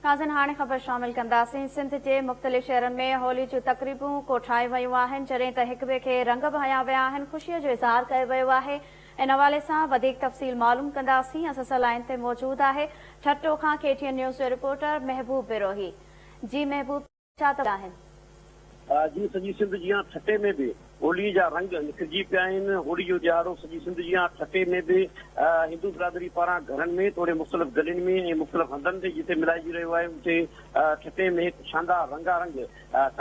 ناظرين هاڻي خبر شامل ڪنداسين. سنڌ جي مختلف شهرن ۾ هولي جون تقريبون ڪوٺايون ويون آهن جڏهن ته هڪ ٻئي کي رنگ به هنيا ويا آهن خوشي جو اظهار ڪيو ويو آهي ان حوالي سان وڌيڪ تفصيل معلوم ڪنداسين اسان سان لائين تي موجود آهي ٺٽو کان ڪي ٽي اين نيوز جو رپورٽر محبوب بروهي جي محبوب. ڇا ته آهن. جيئن سڄي سنڌ جيان ٺٽي ۾ به هوليء جا رنگ نکرجي پيا آهن. هوليء جو ڏهاڙو سڄي سنڌ جيان ٺٽي ۾ به هندو برادري پاران گهرن ۾ توڙي مختلف گلين ۾ ۽ مختلف هنڌن تي جتي ملهائجي رهيو آهي اتي ٺٽي ۾ هڪ شاندار رنگا رنگ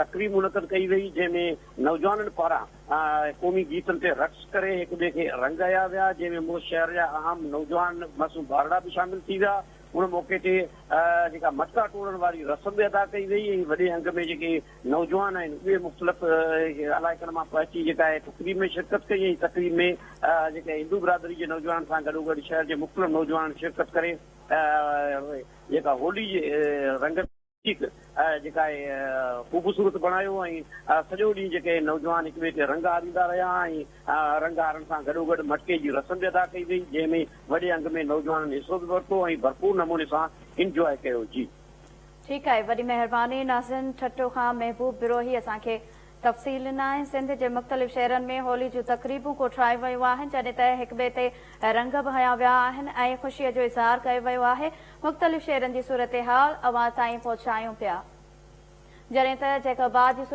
تقريب منعقد ڪئي وئي جنهن ۾ نوجوانن پاران قومي گيتن تي رقص ڪري هڪ ٻئي کي رنگ هيا ويا جنهن ۾ مون شهر جا اهم نوجوان معصوم ٻارڙا به شامل ٿي ويا ان موقعي تي جيڪا مٽڪا ٽوڙڻ واري رسم به ادا ڪئي وئي ۽ وڏي انگ ۾ جيڪي نوجوان آهن اهي مختلف علائقن مان پهچي جيڪا آهي تقريب ۾ شرڪت ڪئي ۽ تقريب ۾ جيڪا هندو برادري جي نوجوانن سان گڏوگڏ شهر جي مختلف نوجوانن شرڪت ڪري جيڪا هولي جي رنگن ٺيڪ جيڪا اهي خوبصورت بڻايو ۽ سڄو ڏينهن جيڪي اهي نوجوان هڪ ٻئي کي رنگ هاريندا رهيا ۽ رنگ هارڻ سان گڏوگڏ مٽڪي جي رسم به ادا ڪئي وئي جنهن ۾ وڏي انگ ۾ نوجوانن حصو به ورتو ۽ ڀرپور نموني سان انجواء ڪيو جي. ٺيڪ آهي وڏي مهرباني ناظرين ٺٽو کان محبوب بروهي اسان کي تفصيل ناهي. سنڌ جي مختلف شهرن ۾ هولي جون تقريبون ڪوٺرايون ويون آهن، جڏهن ته هڪ ٻئي تي رنگ به هنيا ويا آهن ۽ خوشي جو اظهار ڪيو ويو آهي. مختلف شهرن جي صورتحال اوهان تائين پهچايون پيا. جڏهن ته جيڪب آباد جي صورتحال.